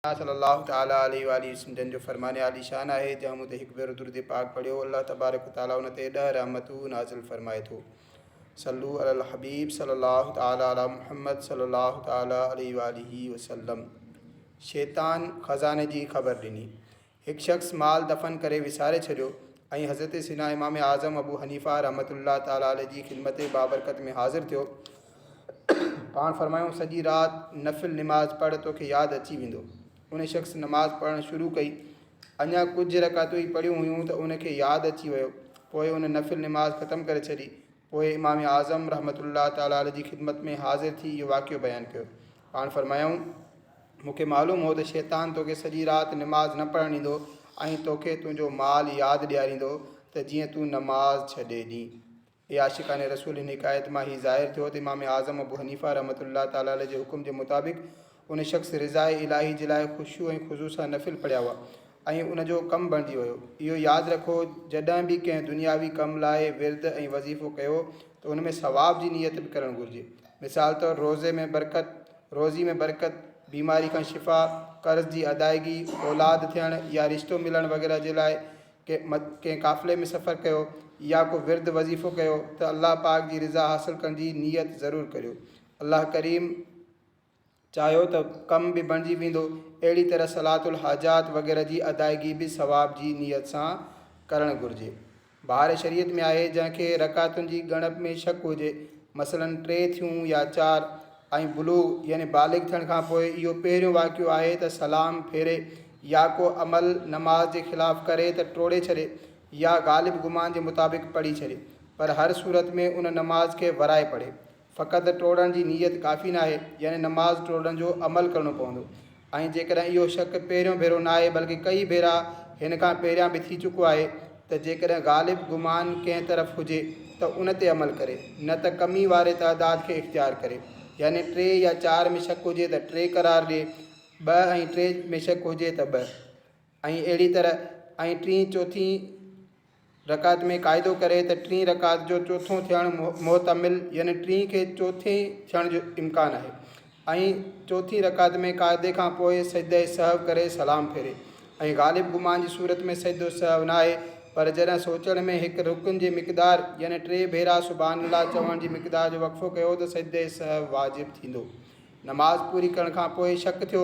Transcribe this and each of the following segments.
آقا صلّي اللّٰه تعالٰي عليه واٰله وسلّم جن جو فرمان عالي شان آهي، جنهن مون تي هڪ ڀيرو درود پاڪ پڙهيو، الله تبارڪ و تعالٰي ان تي ڏهه رحمتون نازل فرمائي ٿو. صلّو علي الحبيب صلّي اللّٰه تعالٰي علي محمّد صلّي اللّٰه تعالٰي عليه واٰله وسلّم شيطان خزاني جي خبر ڏني. هڪ شخص مال دفن ڪري وساري ڇڏيو ۽ حضرت سيدنا امام اعظم ابو حنيفه رحمة الله تعالٰي عليه جي خدمت بابرڪت ۾ حاضر ٿيو پاڻ فرمايائون سڄي رات نفل نماز پڙهه توکي ياد اچي ويندو ان شخص نماز پڙهڻ شروع ڪئي اڃا ڪجهه رڪعتون ئي پڙهيون هيون ته ان کي ياد اچي ويو پوء ان نفل نماز ختم ڪري ڇڏي پوء امام اعظم رحمة الله تعالٰي عليه جي خدمت ۾ حاضر ٿي اهو واقعو بيان ڪيو. پاڻ فرمايائون، مون کي معلوم هو ته شيطان توکي سڄي رات نماز نه پڙهڻ ڏيندو ۽ توکي تنهنجو مال ياد ڏياريندو ته جيئن تون نماز ڇڏي ڏين. اي عاشقان رسول هن حڪايت مان هي ظاهر ٿيو ته امام اعظم ابو حنيفه رحمة الله تعالٰي عليه جي حڪم جي مطابق ان شخص رضاء الاهي جي لاء خشوع ۽ خضوع سان نفل پڙهيا هئا ۽ ان جو ڪم بڻجي ويو. اهو ياد رکو جڏهن به ڪنهن دنياوي ڪم لاء ورد ۽ وظيفو ڪيو ته ان ۾ ثواب جي نيت به ڪرڻ گهرجي. مثال طور روزي ۾ برڪت، روزي ۾ برڪت، بيماري کان شفا، قرض جي ادائيگي، اولاد ٿيڻ يا رشتو ملڻ وغيره جي لاء ڪنهن قافلي ۾ سفر ڪيو يا ڪو ورد وظيفو ڪيو ته الله پاڪ جي رضا حاصل ڪرڻ جي نيت ضرور ڪريو. الله ڪريم. چاهيو ته ڪم به بڻجي ويندو. اهڙي طرح صلاة الحاجات وغيره جي ادائگي به ثواب جي نيت سان ڪرڻ گهرجي. بهار شريعت ۾ آهي جنهن کي رڪعتن جي ڳڻپ ۾ شڪ هجي، مثلاً ٽي ٿيون يا چار، ۽ بلوغ يعني بالغ ٿيڻ کان پوء اهو پهريون واقعو آهي ته سلام ڦيري يا ڪو عمل نماز جي خلاف ڪري ته ٽوڙي ڇڏي يا غالب گمان جي مطابق پڙهي ڇڏي پر هر صورت ۾ ان نماز کي ورائي پڙهي فقط ٽوڙڻ جي نيت ڪافي ناهي، يعني نماز ٽوڙڻ جو عمل ڪرڻو پوندو ۽ جيڪڏهن اهو شڪ پهريون ڀيرو ناهي بلڪ ڪئي ڀيرا هن کان پهريان به ٿي چڪو آهي ته جيڪڏهن غالب گمان ڪنهن طرف هجي ته ان تي عمل ڪري نه ته ڪمي واري تعداد کي اختيار ڪري يعني ٽي يا چار ۾ شڪ هجي ته ٽي قرار ڏي ٻه ۽ ٽي ۾ شڪ هجي ته ٻه. ۽ اهڙي طرح ۽ ٽين چوٿين رڪعت ۾ قاعدو ڪري ته ٽين رڪعت جو چوٿون ٿيڻ محتمل يعني ٽين کي چوٿين ٿيڻ جو امڪان آهي ۽ چوٿين رڪعت ۾ قاعدي کان پوء سجده سهو ڪري سلام ڦيري ۽ غالب گمان جي صورت ۾ سجدو سهو ناهي پر جڏهن سوچڻ ۾ هڪ رڪن جي مقدار يعني ٽي ڀيرا سبحان الله چوڻ جي مقدار جو وقفو ڪيو ته سجده سهو واجب ٿيندو نماز پوري ڪرڻ کان پوء شڪ ٿيو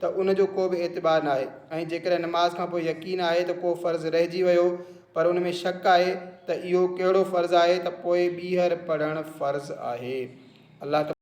ته ان جو ڪو به اعتبار ناهي ۽ جيڪڏهن نماز کان پوء يقين آهي ته ڪو فرض رهجي ويو پر ان ۾ شڪ آهي ته اهو ڪهڙو فرض آهي ته پوء ٻيهر پڙهڻ فرض آهي. الله تبارڪ.